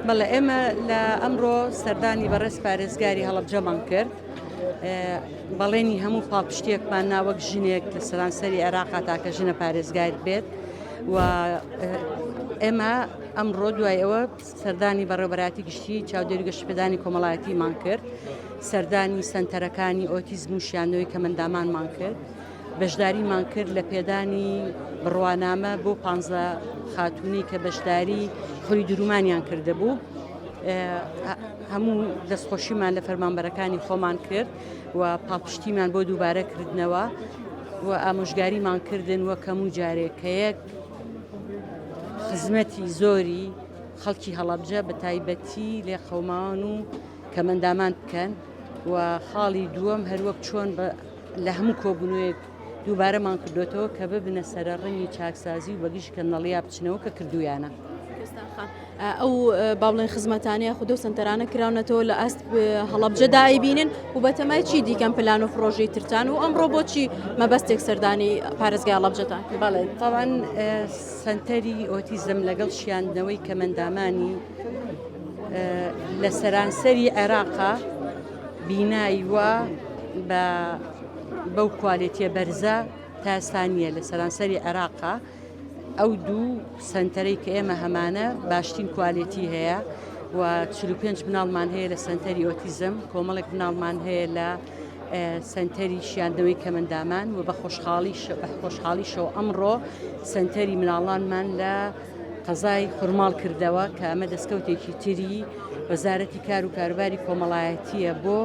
بەڵێ ئێمە لە ئەمڕۆ سەردانی بەڕێز پارێزگاری هەڵبجەمان کرد بەڵێنی هەموو پاڵپشتێکمان ناوەک ژنێک لە سەرانسەری عێراقا تاکە ژنە پارێزگار بێت و ئێمە ئەمڕۆ دوای ئەوە سەردانی بەڕێبەراتی گشتی چاودێری گەشتپدانی کۆمەڵایەتیمان کرد سەردانی سنتەرەکانی ئۆتیزم و شیانەوەی کەمەندامانمان کرد. بەشداریمان کرد لە پێدانی بڕوانامە بۆ پانزە خاتوونی کە بەشداری خولی درومانیان کردبوو هەموو دەستخۆشیمان لە فەرمانبەرەکانی خۆمان کرد و پاپشتیمان بۆ دووبارە کردنەوە و ئامۆژگاریمان کردن وە کەم و جارێکەیەک خزمەتی زۆری خەڵکی هەڵەبجە بە تایبەتی لێ قەومان و کەمەندامان بکەن و خاڵی دووەم هەروەک چۆن بە لە هەموو کۆبوونەوەیەک دووبارەمان کردۆتەوە کە ببنە سەرەڕنگی چاکسازی و بەگژ کەنەڵیا بچنەوە کە کردویانە. ئەو باڵێن خزمەتانەیە خودۆ سنتەرانە کراونەتەوە لە ئاست هەڵبجە دایبینن و بەتەمای چی دیکەم پلان و پرۆژەی ترتان و ئەمڕۆ بۆچی مەبەستێک سەردانی پارێزگای هەڵبجەتان بەڵێ تاوان سنتەری ئۆتیزم لەگەڵ شیاندنەوەی کەمەندامانی لە سەرانسەری عێراقا بینای وا بە بەو کوالێتیە بەرزە تا ئێستا نییە لە سەرانسەری عێراقا ئەو دوو سنتەرەی کە ئێمە هەمانە باشترین کوالێتی هەیە و 45 مناڵمان هەیە لە سنتەری ئۆتیزم کۆمەڵێک مناڵمان هەیە لە سنتەری شیاندنەوەی کەمەندامان و بە خۆشحاڵی خۆشحاڵیشەوە ئەمڕۆ سنتەری مناڵانمان لە قەزای خورماڵ کردەوە کە ئەمە دەستکەوتێکی تری وەزارەتی کار و کاروباری کۆمەڵایەتیە بۆ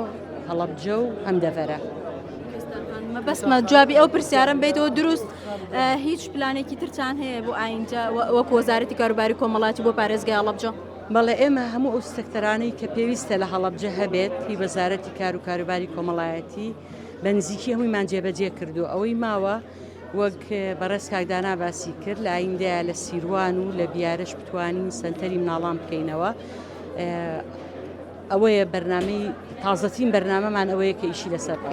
هەڵەبجە و ئەم دەڤەرە. مەبەستمە جوابی ئەو پرسیارم بیتەوە دروست هیچ پلانێکی ترتان هەیە بۆ ئاینجا وەک وەزارەتی کاروباری کۆمەڵاتی بۆ پارێزگای هەڵەبجە بەڵێ ئێمە هەموو ئەو سەکتەرانەی کە پێویستە لە هەڵەبجە هەبێت هی وەزارەتی کار و کاروباری کۆمەڵایەتی بە نزیکی هەموویمان جێبەجێ کردو ئەوەی ماوە وەک بەڕێز کاک دانا باسی کرد لە ئایندەیە لە سیروان و لە بیارش بتوانین سەنتەری مناڵان بکەینەوە ئەوەیە بەرنمەی تازەترین بەرنمەمان ئەوەیە کە ئیشی لەسەر بکەین